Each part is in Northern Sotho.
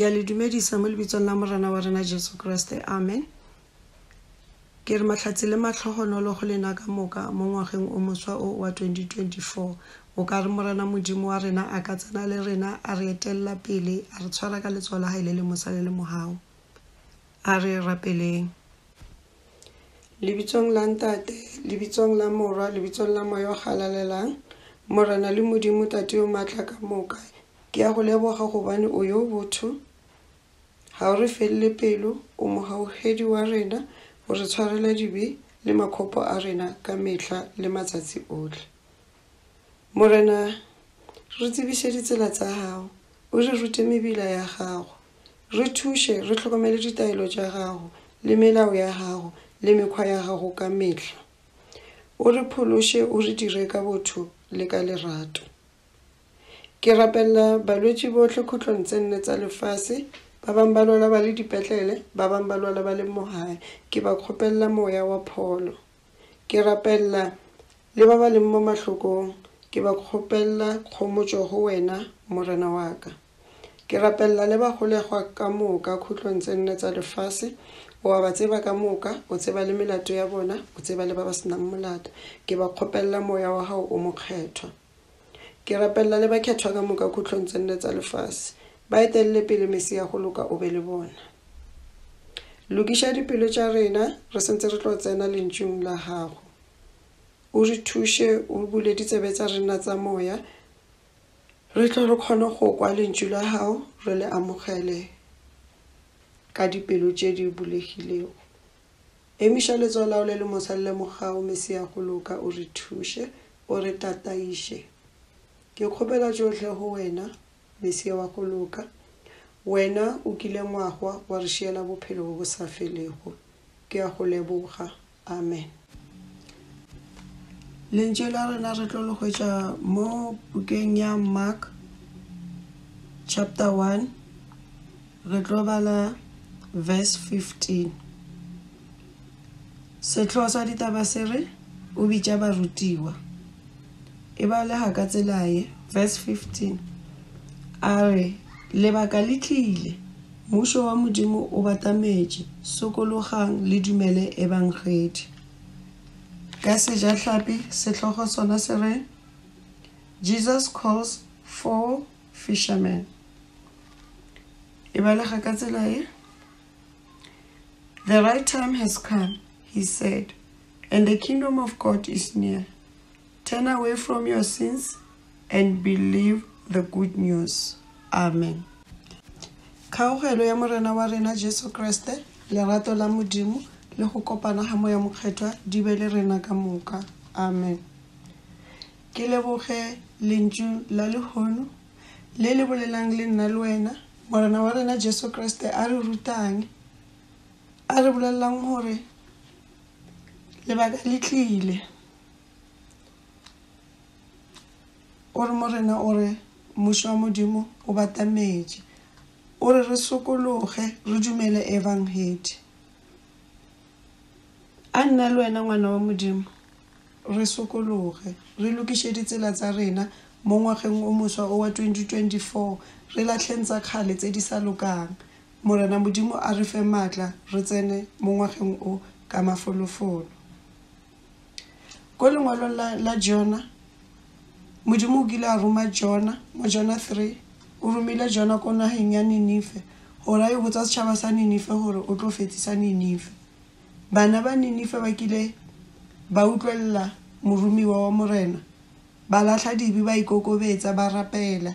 ke a le dumedisa mo lebitsong la morena wa rena jesu kriste amen ke re matlhatsi le matlhogonolo go lena ka moka mo ngwageng o moswa o wa 2024 o ka re morena modimo wa rena a ka tsena le rena a re etelela pele a re tshwara ka letsoa la gae le le mosa le le mogao A re rapeleng. Lebitsong la Ntate, lebitsong la Morwa, lebitsong la Moya o Galalelang, Morena le Modimo Tate yo Maatla ka moka, ke a Go leboga gobane O yo botho. Ga o re felele pelo, o mogaogedi wa rena, o re tshwarela dibe le makgopo a rena ka mehla le matsatsi ohle. Morena, re tsebiše ditsela tsa Gago, o re rute mebila ya Gago. Re thuše re hlokomele ditaelo tša gago le melao ya gago le mekgwa ya gago ka mehla. O re phološe o re dire ka botho le ka lerato. Ke rapelela balwetši bohle khutlong tse nne tsa lefase, ba bang ba lwala ba le dipetlele, ba bang ba lwala ba le mo gae, ke ba kgopelela moya wa pholo. Ke rapelela le ba ba leng mo mahlokong, ke ba kgopelela kgomotšo go wena, Morena wa ka. Ke rapelela le bagolegwa ka moka khutlong tse nne tsa lefase. O a ba tseba ka moka, o tseba le melato ya bona, o tseba le ba ba senang molato. Ke ba kgopelela Moya wa Gago o Mokgethwa. Ke rapelela le bakhethwa ka moka khutlong tse nne tsa lefase. Ba etelele pele, Mesia go loka o be le bona. Lokiša dipelo tša rena re sentse re tlo tsena Lentšung la Gago. O re thuše, o bule ditsebe tsa rena tsa moya, Re tle re kgone go kwa Lentšu la Gago, re le amogele ka dipelo tše di bulegilego. Emiša letsogo la Gago le le mosa le lemogago, Mesia, go loka, o re thuše, o re tataiše. Ke kgopela tšohle go Wena, Mesia wa go loka. Wena o kile ngwagwa wa re šiela bophelo bo bo sa felego. Ke a Go leboga, Amen. Lentšu la rena re tlo le hwetša mo bukeng ya Mark chapter 1 re tlo bala verse 15. Sehloho sa ditaba se re o bitša barutiwa. e balega ka tsela ye, verse 15, a re, Lebaka le tlile, Mmušo wa Modimo o batametše, sokologang le dumele Ebangedi. Ka Sejahlapi sehlogo sona se re, Jesus Calls Four Fishermen. E balega ka tsela ye, The right time has come, he said. And the kingdom of God is near. Turn away from your sins and believe the good news. Amen. Kgaogelo ya Morena wa rena Jesu Kriste, lerato la Modimo, le go kopana ga Moya Mokgethwa di be le rena ka moka. Amen. Ke leboge lentšu la lehono le le bolelang le nna le wena morena wa rena jesu kriste a re rutang a re bolelelang gore lebaka le tlile o re morena o re mmušo wa modimo o batametše o re re sokologe re dumele evangedi a nna le wena ngwana wa modimo re sokologe re lokiše ditsela tsa rena mo ngwageng o moswa o wa 2024 re lahleng tsa kgale tse di sa lokang Morena Modimo a re fe maatla re tsene mo ngwageng o ka mafolofolo. Ko lengwalong la, la Jona, Modimo o kile a roma Jona, mo Jona 3, o romile Jona ko nageng ya Ninife, gore a yo botsa setšhaba sa Ninife gore o tlo fetsisa Ninife. Bana ba Ninife ba kile ba utlwelela moromiwa wa Morena, ba lahla dibe, ba ikokobetsa, ba rapela.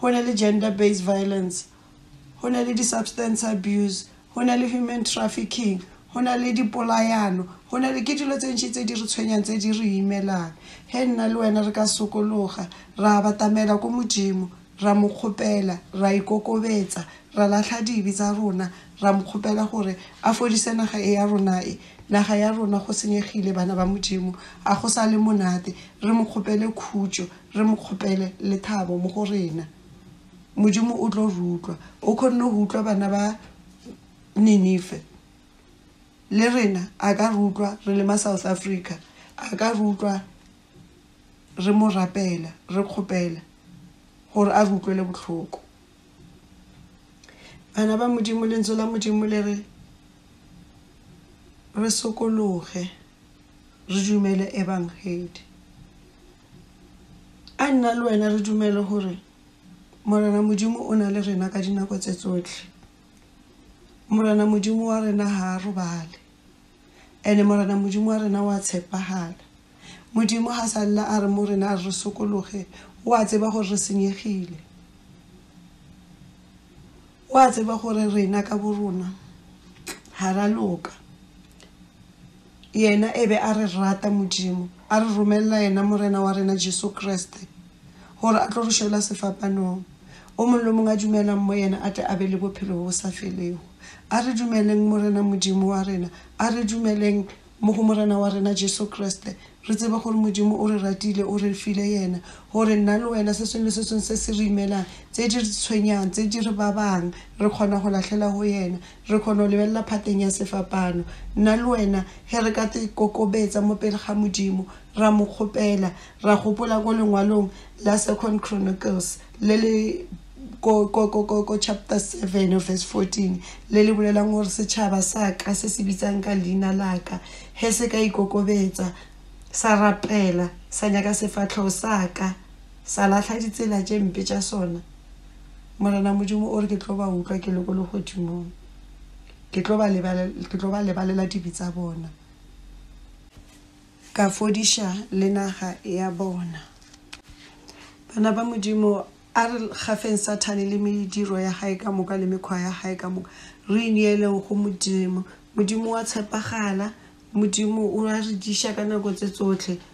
go na le gender based violence, go na le di-substance abuse, go na le human trafficking, go na le dipolayano, go na le ke dilo tse ntši tse di re tshwenyang tse di re imelang. Ge nna le wena re ka sokologa ra batamela ko Modimo ra mo kgopela ra ikokobetsa ra lahla dibe tsa rona ra mo kgopela gore a fodise naga e ya rona e. Naga ya rona go senyegile bana ba Modimo, ga go sa le monate. Re mo kgopele khutšo, Re mo kgopele lethabo mo go rena. Modimo o tlo re utlwa. O kgonne go utlwa bana ba Ninife. Le rena a ka re utlwa re le ma South Africa. A ka re utlwa re mo rapela, re kgopela gore a re utlwele bohloko. Bana ba Modimo, Lentswe la Modimo le re re sokologe, re dumele Ebangedi. A nna le wena re dumele gore Morena Modimo o na le rena ka dinako tse tsohle. Morena Modimo wa rena ha a robale. Ene Morena Modimo wa rena wa tshepagala. Modimo ha sa lla a re mo rena a re sokologe, o a tseba gore re senyegile. O a tseba gore rena ka borona ha ra loka. Yena e be a re rata, Modimo a re romelela Yena, Morena wa rena Jesu Kriste, gore a tlo re šola sefapanong. O mong le o mong a dumelang mo Yena a tle a be le Bophelo bjo bo sa Felego. A re dumeleng, Morena Modimo wa rena. A re dumeleng mo go Morena wa rena Jesu Kriste, re tsebe gore Modimo o re ratile, o re file Yena, gore nna le wena, se sengwe le se sengwe se se re imelang, tse di re tshwenyang, tse di re babang, re kgona go lahlela go Yena. Re kgona go lebelela phateng ya sefapano, nna le wena, ge re ka te kokobetsa mo pele ga Modimo, ra Mo kgopela. Ra gopola ko lengwalong la Second Chronicles, le le ko, ko, ko, ko, ko chapter 7 of verse 14, le le bolelang gore setšhaba sa ka se se bitsang ka leina la ka, ge se ka ikokobetsa, sa rapela, sa nyaka sefahlego sa ka, sa lahla ditsela tše mpe tša sona. Morena Modimo o re, Ke tlo ba utlwa ke le ko legodimong. Ke tlo ba lebalela, ke tlo ba lebalela dibe tsa bona, ka fodiša le naga ya bona. Bana ba Modimo, a re gafeng Sathane le mediro ya gae ka moka le mekgwa ya gae ka moka, re ineeleng go Modimo. Modimo o a tshepagala, Modimo o a re diša ka nako tse tsotlhe,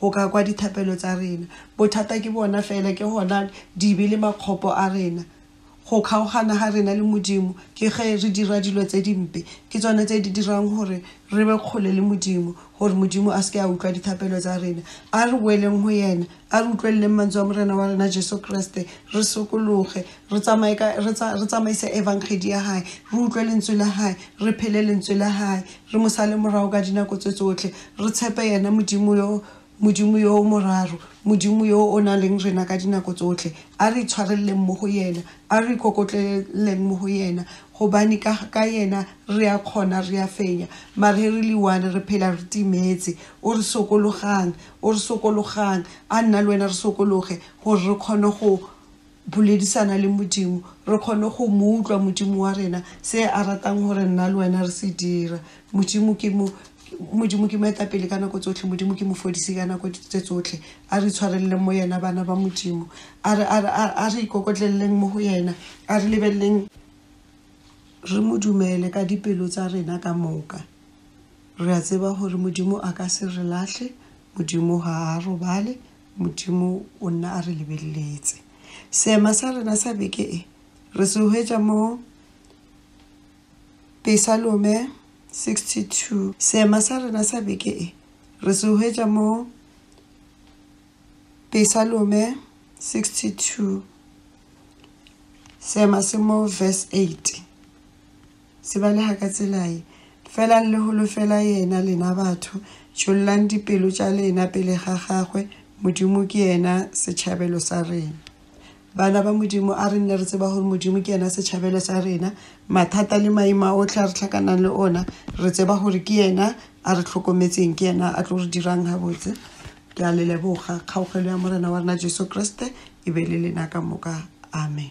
go ka kwa dithapelo tsa rena. Bothata ke bona fela, ke gona di be le makgopo a rena. Go kgaogana ga rena le Modimo ke ge re dira dilo tse dimpe, ke tsona tse di dirang gore re be kgole le Modimo, gore Modimo a se ke a utlwa dithapelo tsa rena. A re boeleng go yena, a re utlweleleng mantswe a Morena wa rena Jesu Kriste, re sokologe, re tsamaye ka, re tsamaise Evangedi ya hae, re utlwe lentswe la hae, re phele lentswe la hae. Re mo sale morago ka dinako tse tsohle. Re tshepe yena, Modimo yo, Modimo yo o moraro, Modimo yo o na leng rena ka dinako tsohle. A re itshwarelleng mo go yena. A re ikokotleleng mo go yena, gobane ka, ka yena re a kgona, re a fenya. Mare re le one, re phela re timetse. O re sokologang. O re sokologang. A nna le wena re sokologe, gore re kgone go. Boledisana le Modimo, re kgone go Mo utlwa, Modimo wa rena, se A ratang gore nna le wena re se dira. Modimo ke Mo, Modimo ke Moetapele ka nako tsohle, Modimo ke Mofodisi ka nako tše tsohle. A re itshwareleleng mo Yena, bana ba Modimo. A re, a re, a, a re ikokotleleleng mo go Yena. A re lebeleleng re Mo dumele ka dipelo tsa rena ka moka. Re a tseba gore Modimo a ka se re lahle, Modimo ga A robale, Modimo o nna a re lebeletse. Seema sa rena sa beke e re se hwetša mo Pesalome 62. Seema sa rena sa beke e re se hwetša mo Pesalome 62. Seema se mo verse 8. Se balega ka tsela ye, Felang le holofela Yena, lena batho, tšhollang dipelo tša lena pele ga Gagwe, Modimo ke yena setšhabelo sa rena. Bana ba Modimo, a re nne re tseba gore Modimo ke yena setšhabelo sa rena. Mathata le maemo a otlhe a re hlakanang le ona, re tseba gore ke yena a re hlokometseng, ke yena a tlo re dirang gabotse. Ke a le leboga. Kgaogelo ya Morena wa rena Jesu Kriste e be le lena ka moka. Amen.